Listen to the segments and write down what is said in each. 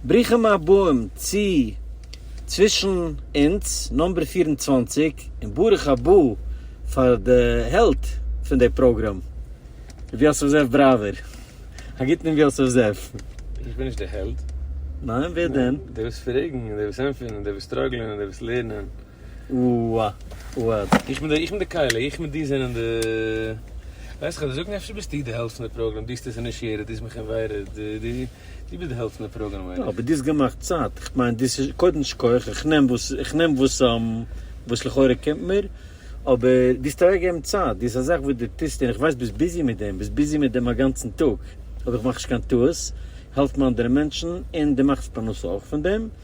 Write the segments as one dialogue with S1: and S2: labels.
S1: ברוכים הבאים צו צווישן אונז נומבער פֿיר און צוואַנציק, און ברוך הבא פאר די העלד פון די פראגראם ר' יוסף זאב בראווער. א גוטן ר' יוסף זאב. איך בין נישט די
S2: העלד. ניין ווער
S1: דען? די וואס פרעגן און די
S2: וואס ענטפערן און די וואס סטראגלען און די וואס לערנען.
S1: אוואד, איך
S2: בין איך בין די כלה, איך מיט דיר זענען די. ווייסט וועלכע זאגן אפשר ביסטו די העלפט פון די פראגראם, דו האסט עס אינישיעטעד, דו האסט מיך אינווייטעד, דו דו ביסט די העלפט פון די פראגראם מיין איך. אבער דו האסט געמאכט צייט,
S1: איך מיין דאס איז קודם שכח, איך נעם וואס איך נעם וואס וואס לכאורה קומט מיר, אבער דו האסט אוועקגעגעבן צייט, דאס איז א זאך וואס דו טוסט און איך ווייס ביסט ביזי מיט דעם, ביסט ביזי מיט דעם א גאנצן טאג, אויב איך מאך נישט קיין טעות, העלפן אנדערע מענטשן און דו מאכסט פרנסה אויך פון דעם.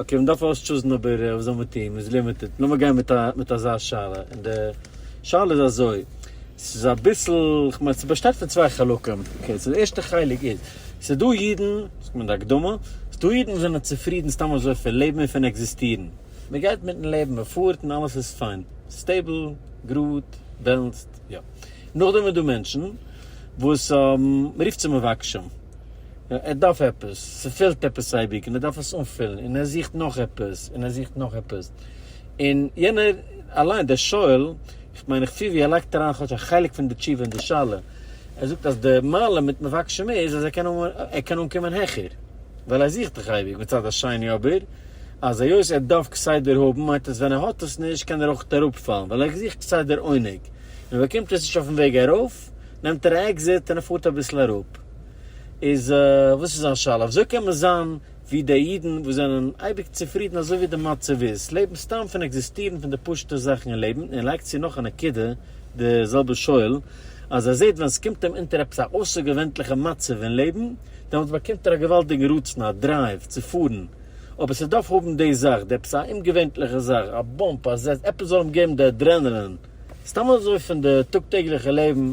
S1: אקעי מען דארף אויסטשוזן אבער וואס זאל מען טון מען איז לימיטעד לאמיר גיין מיט א מיט אזא שאלה און די שאלה איז אזוי ס'איז אביסל כ'מיין ס'באשטייט פון צוויי חלקים אקעי סאו די ערשטע חלק איז ס'איז דא אידן ס'קומט אין די הקדמה ס'איז דא אידן וואס זענען צופרידן סתם אזוי פון לעבן און פון עקזיסטירן מען גייט מיטן לעבן מען פארט און אלעס איז פיין סטעיבל גראד בעלענסד יא נאכדעם איז דא מענטשן וואס מען רופט זיי מבקשים. ער דארף עפעס, ס'פעלט עפעס אייביג און ער דארף עס אנפילן, און ער זוכט נאך עפעס, און ער זוכט נאך עפעס, און יענער אליין, דער שואל, איך מיין איך פיל ווי ער לייגט אריין כאטש א חלק פון די תשובה אין די שאלה, ער זאגט אז די מעלה מיט מבקש מ איז אז ער קען ער קען אנקומען העכער, ווייל ער זוכט דאך אייביג, מצד השני אבער, אז היות ער דארף כסדר האבן, מיינט עס ווען ער האט עס נישט קען ער אויך אראפפאלן, ווייל ער זוכט כסדר עונג, און ער באקומט עס נישט אויפן וועג ארויף, נעמט ער א עקזיט און ער פארט אביסל אראפ. איז וואס איז זיין שאלה? וויאזוי קען מען זיין ווי די אידן וואס זענען אייביג צופרידן אזוי ווי די מצב איז, לעבן סתם פון עקזיסטירן פון די פשוט'ע זאכן אין לעבן, און ער לייגט צו נאך א נקודה די זעלבע שואל, אז ער זעט ווען ס'קומט אים אונטער עפעס א אויסערגעווענטליכע מצב אין לעבן, דעמאלטס באקומט ער א געוואלדיגן רצון, א דרייוו, צו פארן, אבער ס'דארף האבן די זאך, די עפעס א אומגעווענטליכע זאך, א באמפ, א זעץ, עפעס זאל אים געבן די אדרענעלין, סתם אזוי פון די טאג טעגליכע לעבן.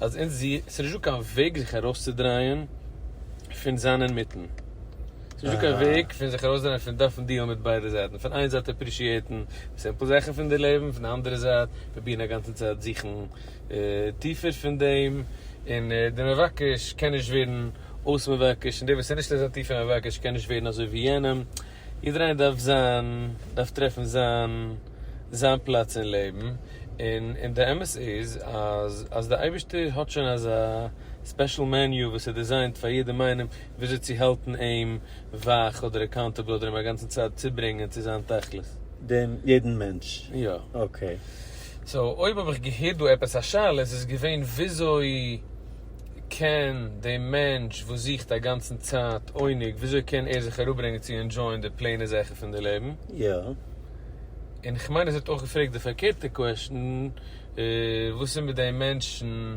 S2: אז אונז זי עס איז נישט דא קיין וועג זיך ארויסצודרייען פון זיין אינמיטן ס'איז נישט דא קיין וועג פון זיך ארויסדרייען פון דארפן דיעלן מיט ביידע זייטן פון איין זייט אפרישיעטן סימפל זאכן פון די לעבן פון די אנדערע זייט פרובירן א גאנצע צייט זוכן טיפער פון דעם און דער מבקש קען נישט ווערן אויס מבקש און דער וואס איז נישט אזוי טיף אין מבקש קען נישט ווערן אזוי ווי יענעם. יעדער איינער דארף זיין, דארף טרעפן זיין, זיין פלאץ אין לעבן, און און די אמת איז אז אז די אייבערשטער האט שוין אזא ספעשל מעניו וואס איז דיזיינט פאר יעדעם איינעם וויאזוי צו האלטן אים ווייך אדער אקאונטעבל אדער אים אגאנצן צייט צוברענגען צו זיין תכלית. דעם יעדן
S1: מענטש? יא. אקעי. סאו אויב
S2: האב איך געהערט דא עפעס א שאלה, איז עס געווען וויאזוי. קען די מענטש וואס זוכט א גאנצן צייט עונג וויאזוי קען ער זיך אראפברענגען צו ענדשויען די פלעינע זאכן פון די לעבן? יא.
S1: און
S2: איך מיין עס ווערט אויך געפרעגט די פארקערטע קוועשטן, וואס איז מיט די מענטשן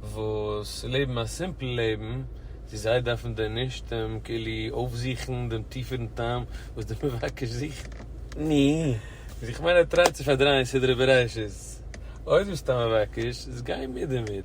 S2: וואס לעבן א סימפל לעבן, צו זיי דארפן דען נישט כאילו אויפזוכן דעם טיפערן טעם וואס דער מבקש זוכט? ני.
S1: איך מיין ער
S2: טרייט צו פארדרייען סדרי בראשית. אויב דו ביסט א מבקש, איז גיי מיט דערמיט.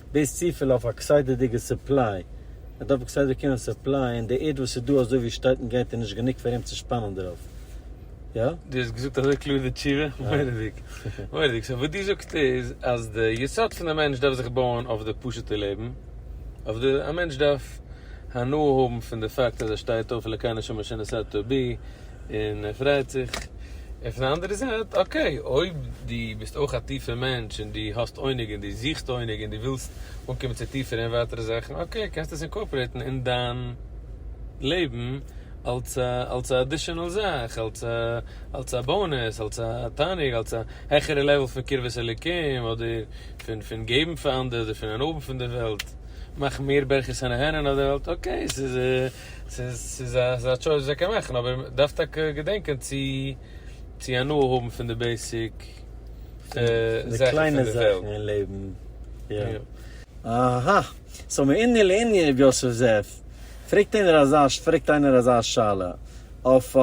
S1: דאס צופיל אויף א כסדר'דיגע סופליי, ער דארף א כסדר קינא סופליי, און די ערד וואס איז דא אזוי ווי עס שטייט און גייט איז נישט גענוג פאר אים צו שפאנען דערויף. יא? דו האסט געזאגט אזוי
S2: קלאר די תשובה, מורא'דיג, מורא'דיג, סאו וואס דו זאגסט איז אז די יסוד פון די מענטש דארף זיך בויען אויף די פשוטע לעבן, אויף די, א מענטש דארף הנאה האבן פון די פאקט אז ער שטייט אויף, אלקי נשמה שנשאת בי, און ער פרייט זיך. און פון די אנדערע זייט, אקעי, אויב דו ביסט אויך א טיפער מענטש און דו האסט עונג און דו זוכסט עונג און דו ווילסט אנקומען צו טיפערע און ווייטערע זאכן, אקעי, קענסטו עס אינקארפארעיטן אין דיין לעבן אלס א, אלס א עדישענעל זאך, אלס א, אלס א באונעס, אלס א תענוג, אלס א העכערע לעוועל פון קרבת אלוקים, אדער פון, פון געבן פאר אנדערע, אדער פון אנהאבן פון די וועלט, מאכן מער ברכות און אהרן אויף די וועלט, אקעי, ס'איז. ס'איז א טשויס וואס ער קען מאכן, אבער ער דארף טאקע געדענקען צו צו הנאה האבן פון די בעיסיק
S1: זאכן פון די וועלט. אהא. סאו מענין לענין ר' יוסף זאב, פרעגט איינער אזא פרעגט איינער אזא שאלה אויף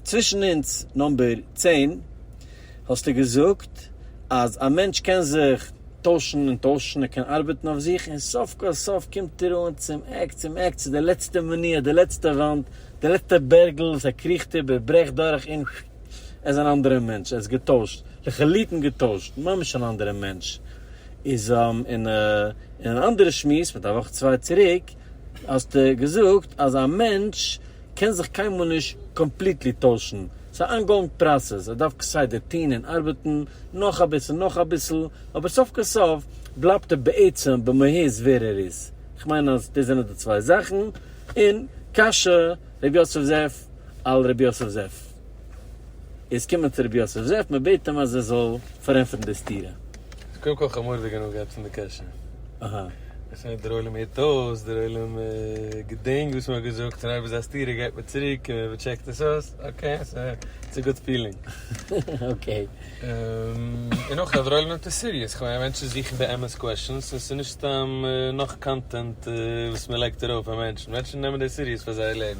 S1: צווישן אונז נאמבער צען. האסטו געזאגט אז א מענטש קען זיך טוישן און טוישן, ער קען ארבעטן אויף זיך, און סוף כל סוף קומט ער אן צום עק, צום עק, צו די לעצטע מניעה, די לעצטע וואנט, די לעצטע בערגל וואס ער קריכט איבער, ברעכט דורך און פששש, ער איז אן אנדערע מענטש, ער איז געטוישט, לחלוטין געטוישט, ממש אן אנדערע מענטש. איז אין אן אנדערע שמועס מיט א וואך צוויי צוריק האסטו געזאגט אז א מענטש קען זיך קיינמאל נישט קאמפליטלי טוישן, ס'איז א אנגאואינג פראסעס, ער דארף כסדר טוהן און ארבעטן, נאך אביסל נאך אביסל, אבער סוף כל סוף בלייבט ער בעצם במהות ווער ער איז, כ'מיין אז דאס זענען די צוויי זאכן, און קשיא ר' יוסף זאב על ר' יוסף זאב. איז קומען צו רבי יוסף זאב מען בעט אים אז ער זאל פארענטפערן די סתירה. איז קודם כל
S2: חמור וועגן האבן געעפנט די קעשענע. אהא.
S1: עס איז נישט דער
S2: עולם הערט אויס, דער עולם געדענקט וואס מען האט געזאגט און אויב איז א סתירה גייט מען צוריק און מען טשעקט עס אויס, אקעי, סא איטס א גוד פילינג. אקעי. און אויך אז דער עולם נעמט עס סיריעס, כ'מיין מענטשן זוכן באמת קוועשאנס און ס'איז נישט סתם נאך קאנטענט וואס מען לייגט ארויף אויף מענטשן, מענטשן נעמען דאס סיריעס פאר זייער לעבן.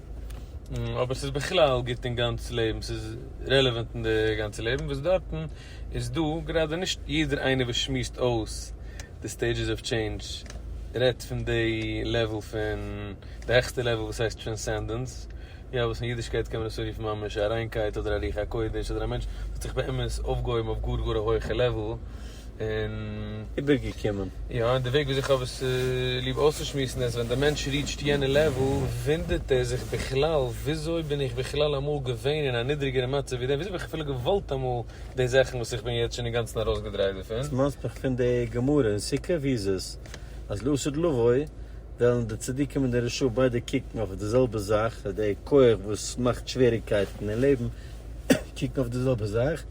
S2: אבער ס'איז בכלל גוט אין גאנץ לעבן, ס'איז רעלעווענט אין די גאנצע לעבן, וואס דארטן איז דא גראדע נישט יעדער איינער וואס שמועסט אויס די סטעידזשעס אוו טשעינדזש רעדט פון די לעוועל פון די העכסטע לעוועל וואס הייסט טרענסענדענס, יא וואס אין אידישקייט קען מען דאס אנרופן ממש א ריינקייט אדער א רוח הקודש אדער א מענטש וואס האט זיך באמת אויפגעהויבן אויף גאר גאר א הויכע לעוועל. און איבערגעקומען.
S1: יא, און די וועג וויאזוי איך
S2: האב עס ליב אויסצושמועסן איז, ווען דער מענטש ריעטשט יענע לעוול, וואונדערט ער זיך בכלל, וויאזוי בין איך בכלל אמאל געווען אין א נידריגערע מצב ווי דעם? וויאזוי האב איך אפילו געוואלט אמאל די זאכן וואס איך בין יעצט שוין אינגאנצן ארויסגעדרייט דערפון? ס'מאנט מיך פון די
S1: גמרא אין סוכה ווי איז עס אז לעשות לבוי וועלן די צדיקים און די רשעים ביידע קוקן אויף די זעלבע זאך, די כח וואס מאכט שוועריגקייטן אין לעבן קוקן אויף די זעלבע זאך.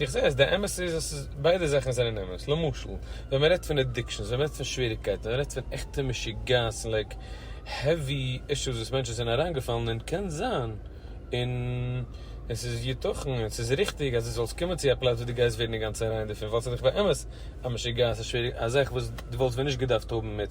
S2: איך זעה אז די אמת איז אז ס'איז ביידע זאכן זענען אמת, למשל ווען מ'רעדט פון אדיקשאנס, ווען מ'רעדט פון שוועריגקייטן, ווען מ'רעדט פון עכטע משוגעת און לייק העווי אישוס וואס מענטשן זענען אריינגעפאלן אין קען זיין און עס איז יתכן און ס'איז ריכטיג אז דו זאלסט קומען צו א פלאץ וואס דו גייסט ווערן אינגאנצן ריין דערפון ווייל ס'איז דאך באמת א משוגעת א שוועריג א זאך וואס דו וואלסט ווען נישט געדארפט האבן מיט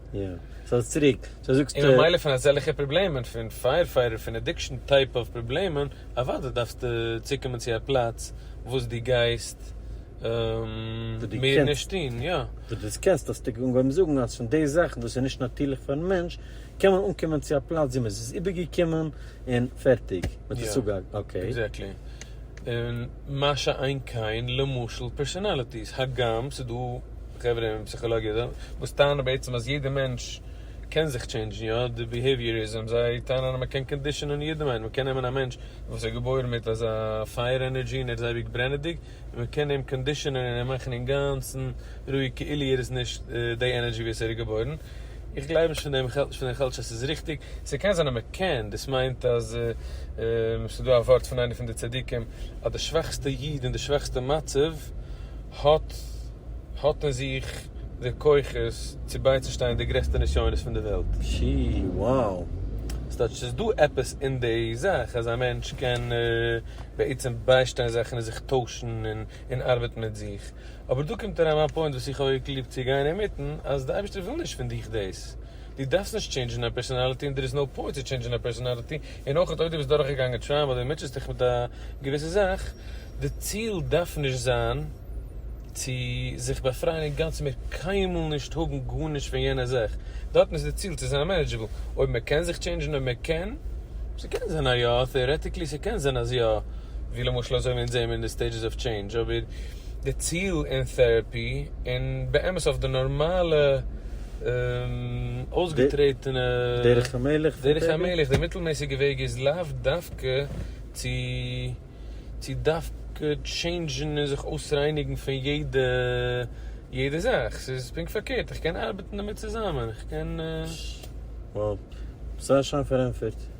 S2: יא, סאיז
S1: צוריק, סאו זאגסטו. און ממילא פון אזעלכע
S2: פראבלעמען פון פייערפייטער פון אדיקשאן טייפ אוו פראבלעמען אוודאי דארפסטו צוקומען צו א פלאץ וואס דו גייסט מער נישט טון, יא. וואס דו קענסט, האסטו
S1: אנגעהויבן זאגן אז פון די זאכן וואס איז נישט נאטירליך פארן מענטש קען מען אנקומען צו א פלאץ ווי מען איז עס איבערגעקומען און פערטיג, מען האט עס אפגעהאקט, אקעי. עקזעקטלי,
S2: און מה שאין כן למשל פערסאנאליטיס, הגם ס'דא. די חברה אין פסיכאלאגיע דא, וואס טענה'ן בעצם אז יעדע מענטש קען זיך טשעינדזשן, יא, די ביהעיוויאריזם, זיי טענה'ן אז מען קען קאנדישאנען יעדעם איינעם, מען קען נעמען א מענטש וואס איז געבוירן מיט אזא פייער ענערדזשי און ער איז אייביג ברענעדיג, און מען קען אים קאנדישאנען און אים מאכן אינגאנצן רואיג כאילו ער איז נישט די ענערדזשי וואס ער איז געבוירן, איך גלייב נישט פון דעם, איך האלט נישט פון דעם, איך האלט נישט אז ס'איז ריכטיג, ס'קען זיין אז מ'קען, דאס מיינט אז ס'איז דא א ווארט פון איינע פון די צדיקים אז די שוואכסטע איד אין די שוואכסטע מצב האט האט אין זיך די כוחות צו בייצושטיין די גרעסטע נסיונות פון די וועלט. שי, wow.
S1: ס'טייטש ס'איז
S2: דא עפעס אין די זאך אז א מענטש קען בעצם ביישטיין זאכן און זיך טוישן און ארבעטן מיט זיך. אבער דא קומט אריין מיין פוינט וואס איך האב אויך ליב צו גיין אינמיטן, אז די אייבערשטער וויל נישט פון דיך דאס, דו דארפסט נישט טשעינדזשן דיין פערסאנאליטי און דער איז נאו פוינט צו טשעינדזשן דיין פערסאנאליטי, און אויך אויב דו ביסט דורכגעגאנגען טראומא אדער מוטשעסט דיך מיט א געוויסע זאך, די ציל דארף נישט זיין צו זיך באפרייען אינגאנצן מער קיינמאל נישט האבן גארנישט פון יענע זאך, דארטן איז די ציל צו זיין מענעדזשעבל, אויב מען קען זיך טשעינדזשן אויב מען קען, ס'קען זיין אז יא, טעארעטיקלי ס'קען זיין אז יא, ווי למשל אזוי ווי אונז זעהן מיר אין די סטעידזשעס אוו טשעינדזש, אבער. די ציל אין טעראפי און באמת אויף די נארמאלע אויסגעטרעטענע
S1: דרך המלך פון טבע. די מיטלמעסיגע
S2: וועג איז לאו דווקא צו צו דווקא טשעינדזשן און זיך אויסרייניגן פון יעדע יעדע זאך, ס'איז פונקט פארקערט, איך קען ארבעטן דערמיט צוזאמען, איך קען. Wow. זייער שיין פארענטפערט.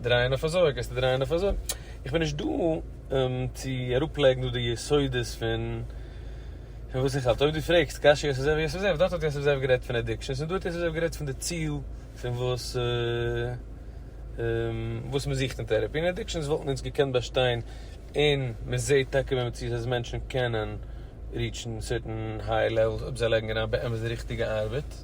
S2: דרייען אויף אזוי גייסטו דרייען אויף אזוי, איך בין נישט דא צו אראפלייגן דא די יסודות פון פון וואס איך האלט, אויב דו פרעגסט קשיא יוסף זאב יוסף זאב, דארט האט יוסף זאב גערעדט פון עדיקשאנס און דא האט יוסף זאב גערעדט פון די ציל פון וואס וואס מען זוכט אין טערעפי, און עדיקשאנס וואלטן אונז געקענט באשטיין און מען זעהט טאקע במציאות אז מענטשן קענען ריעטשן סערטען היי לעוועלס אויב זיי לייגן אריין באמת די ריכטיגע ארבעט.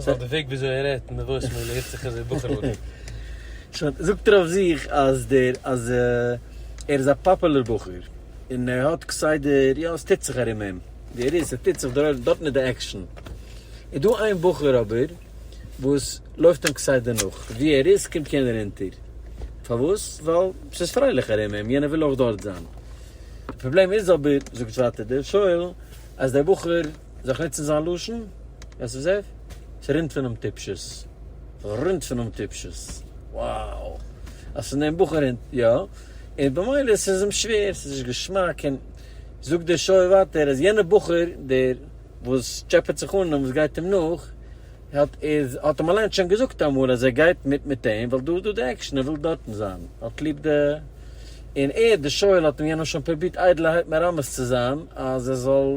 S1: סא די
S2: וועג וויאזוי ער רעדט אין די וואויסמעיל הערט זיך אזוי בחור'ליג. סא
S1: זאגט ער אויף זיך אז דער אז ער איז א פאפעלער בחור און ער האט כסדר יא ס'טוט זיך ארום אים ווי ער איז ס'טוט זיך דארט דארטן איז די עקשן איז דא איין בחור אבער וואס לויפט אים כסדר נאך ווי ער איז קומט יענער אונטער פארוואס ווייל ס'איז פרייליך ארום אים יענער וויל אויך דארט זיין די פראבלעם איז אבער זאגט ווייטער דער שואל אז דער בחור זיך ניצן זיין לשון, ווער ס'איז ער? ס'רינט פונעם טיפשות. ס'רינט פונעם טיפשות. wow! אז פון דעם בחור רינט, יא. און במילא ס'איז אים שווער, ס'איז נישט געשמאק, און זאגט דער שואל ווייטער, אז יענער בחור, דער וואס טשעפעט זיך אן און וואס גייט אים נאך, האט איז, האט אים אליין שוין געזאגט אמאל אז ער גייט מיט מיט אים, ווייל דא איז דא די עקשן, ער וויל דארטן זיין. ער האט ליב די. און ער, דער שואל, האט אים יענעם שוין פרובירט איידלערהייט מרמז צו זיין, אז ער זאל.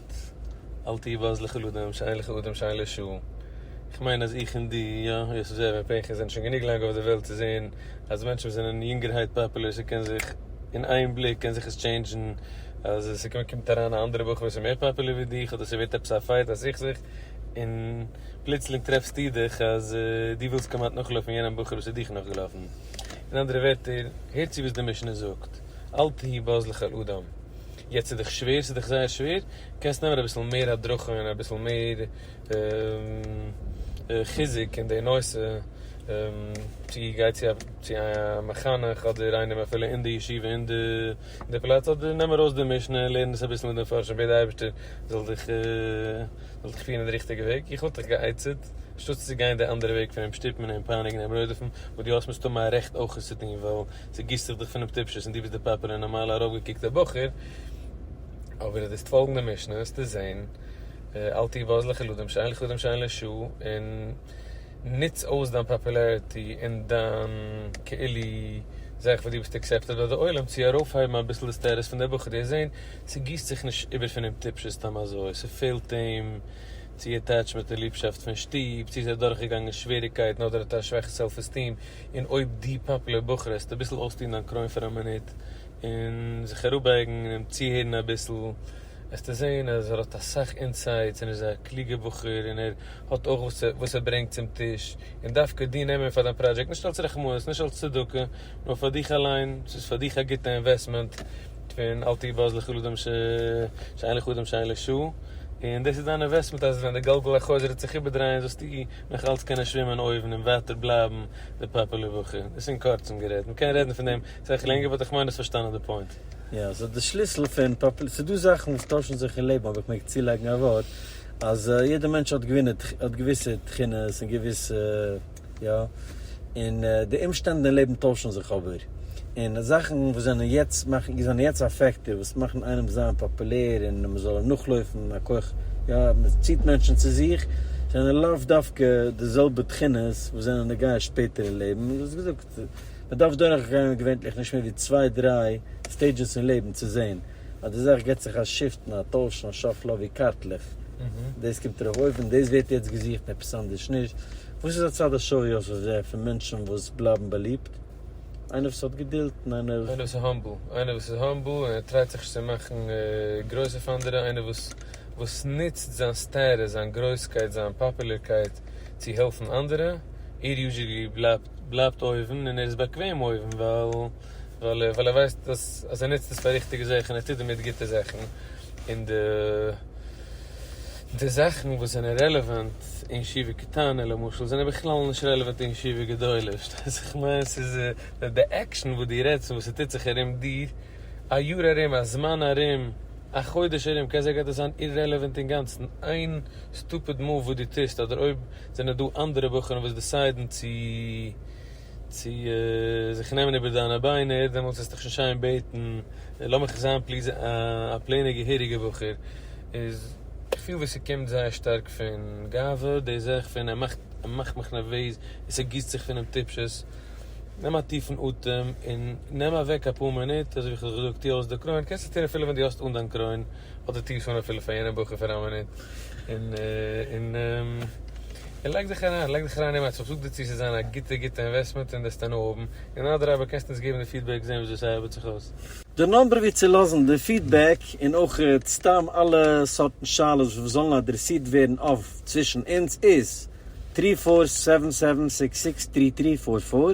S2: געזאגט אל תהי בז לך לאדם שאין לך אדם שאין לו שו איך מיין אז איך און דו יא יוסף זאב און פנחס זענען שוין גענוג לאנג אויף די וועלט צו זעהן אז מענטשן וואס זענען יונגערהייט פאפולער ס'קען זיך אין איין בליק קען זיך עס טשעינדזשן אז ס'קומט אריין א אנדערע בחור וואס איז מער פאפולער ווי דיך אדער ס'ווערט עפעס א פייט א סכסוך און פלוצלינג טרעפסטו דיך אז דו ווילסט כמעט נאכלויפן יענעם בחור וואס איז דיך נאכגעלאפן אין אנדערע ווערטער הער צו וואס די משנה זאגט אל תהי בז לך לאדם. יעצט איז דיך שווער ס'איז דיך זייער שווער קענסט נעמען אביסל מער הדרכה און אביסל מער חיזוק אין די נושא צו גיי צו א מחנך אדער איינעם אפילו אין די ישיבה אין די פלאץ אדער נעם ארויס די משנה און לערן עס אביסל מיט די מפרשים בעט די אייבערשטער זאל דיך פירן אין די ריכטיגע וועג איך וואלט דיך גע'עצה'ט אנשטאט צו גיין די אנדערע וועג פון אים שטופן און אים פייניגן און אים רודף'ן וואס דו האסט מסתמא א רעכט אויך עס צו טון ווייל צעגיסט זיך דיך פונעם טיפשות און דו ביסט דער פאפער און נארמאלער ארויפגעקוקטער בחור, אבער איז דאס פאלגענדע משנה וועסטו זען, אל תהיה בז לך לדם שאין לך דם שאין לש, און נוץ אויס דיין פאפולעריטי און דיין כאילו זאך וואס דו ביסט עקסעפטעד ביי די עולם צו ארויפהייבן אביסל די סטעטוס פון די בחור, דו וועסט זען ס'גיסט זיך נישט איבער פונעם טיפשות סתם אזוי, ס'פעלט אים צו עטעטשמענט און ליבשאפט פון שטוב, צו איז ער דורכגעגאנגען שוועריגקייטן אדער האט ער א שוואכע סעלף עסטיעם, און אויב דו פאפולער בחור העסטו אביסל אויסטון דיין קרוין פאר א מינוט און זיך אראפבייגן און אים צוהערן אביסל וועסטו זען אז ער האט אסאך אינסייטס און ער איז א קלוגער בחור און ער האט אויך וואס ער ברענגט צום טיש און דווקא דיר נעמען פאר דיין פראדזשעקט נישט אלס רחמנות נישט אלס צדקה נאר פאר דיך אליין ס'איז פאר דיך א גוטע אינוועסטמענט פון אל תהיה בז לכל אדם שאין לך אדם שאין לו שוא און דאס איז דיין אינוועסטמענט אז ווען די גלגל החוזר וועט זיך איבערדרייען זאלסטו נאך אלץ קענען שווימען אויבן און ווייטער בלייבן די פאפעלער בחור. דאס אין קורצן גערעדט. מען קען רעדן פון דעם סאך לענגער באט איך מיין דו האסט פארשטאנען די פוינט. יא, סאו די שליסל
S1: פון פאפעלער, ס'איז דא זאכן וואס טוישן זיך אין לעבן אויב איך מעג צולייגן א ווארט, אז יעדער מענטש האט געווינע האט געוויסע תכונות און געוויסע יא. און די אומשטענדן אין לעבן טוישן זיך אבער, און זאכן וואס זענען יעצט מאכן זענען יעצט א פעקטער וואס מאכן איינעם זיין פאפולער און מען זאל אים נאכלויפן א כח י מען ציט מענטשן צו זיך, זענען לאו דווקא די זעלבע תכונות וואס זענען נוגע שפעטער אין לעבן, און ווי געזאגט מען דארף דורכגיין געווענטליך נישט מער ווי צוויי דריי סטעידזשעס אין לעבן צו זען אז די זאך געט זיך א שיפטן א טוישן א שאפל אבי קארטלעך דאס קומט ארויף אויבן דאס ווערט יעצט געזוכט עפעס אנדערש נישט וואס איז הצד השוה אויף אויף זיי פון מענטשן וואס בלייבן באליבט איינער וואס האט געדולד און איינער וואס איז האמבל
S2: איינער וואס איז האמבל און ער טרייט זיך נישט צו מאכן גרויס אויף אנדערע איינער וואס וואס נוצט זיין סטעטוס זיין גרויסקייט זיין פאפולערקייט צו העלפן אנדערע ער יוזשעלי בלייבט בלייבט אויבן און ער איז באקוועם אויבן ווייל. ווייל ער ווייסט אז אז ער נוצט עס פאר ריכטיגע זאכן און ער טוט דערמיט גוטע זאכן, און די די זאכן וואס זענען רעלעוואנט אין ישיבה קטנה למשל זענען בכלל נישט רעלעוואנט אין ישיבה גדולה, פארשטייסט וואס איך מיין? ס'איז די עקשאן וואס דו רעדסט פון וואס ס'טוט זיך ארום דיר, א יאר ארום, א זמן ארום, א חודש ארום, קען זיין גייט עס זיין אירעלעוואנט אינגאנצן, איין סטופיד מאוו וואס דו טוסט, אדער אויב זענען דא אנדערע בחורים וואס דיסיידן צו. צו זיך נעמען איבער דיינע ביינער, דעמאלטס וועסטו שוין שיין בעטן, לאמיך זיין פליז א פלעינע געהעריגע בחור, איז כ'פיל ווי ס'קומט זייער שטארק פון גאווה, דאס זעה איך פון ער מאכט, ער מאכט מיך נערוועז, און ס'גיסט זיך פון אים טיפשות, נעם א טיפן אטעם, און נעם אוועק אפאר מינוט, אזוי ווי כ'האב זיך געזאגט, טו אויס די קרוין, קענסט עס טון אפילו ווען דו האסט אן דיין קרוין. אדער טוה שוין אפילו פאר יענע בחור פאר א מינוט, און און און לייג דיך אריין, לייג דיך אריין אמת, איך זאג דיר צו עס איז זיין א גוטע גוטע אינוועסטמענט און דאס טענה האבן, און אדרבה קענסט אונז געבן די פידבעק זען וויאזוי ס'ארבעט זיך אויס. די נומבער ווי צו
S1: לאזן די פידבעק און אויך סתם אלע סארטן שאלות וואס זאלן אדרעסירט ווערן אויף צווישן אונז איז, טרי פאר סעווען סעווען סיקס סיקס טרי טרי פאר פאר.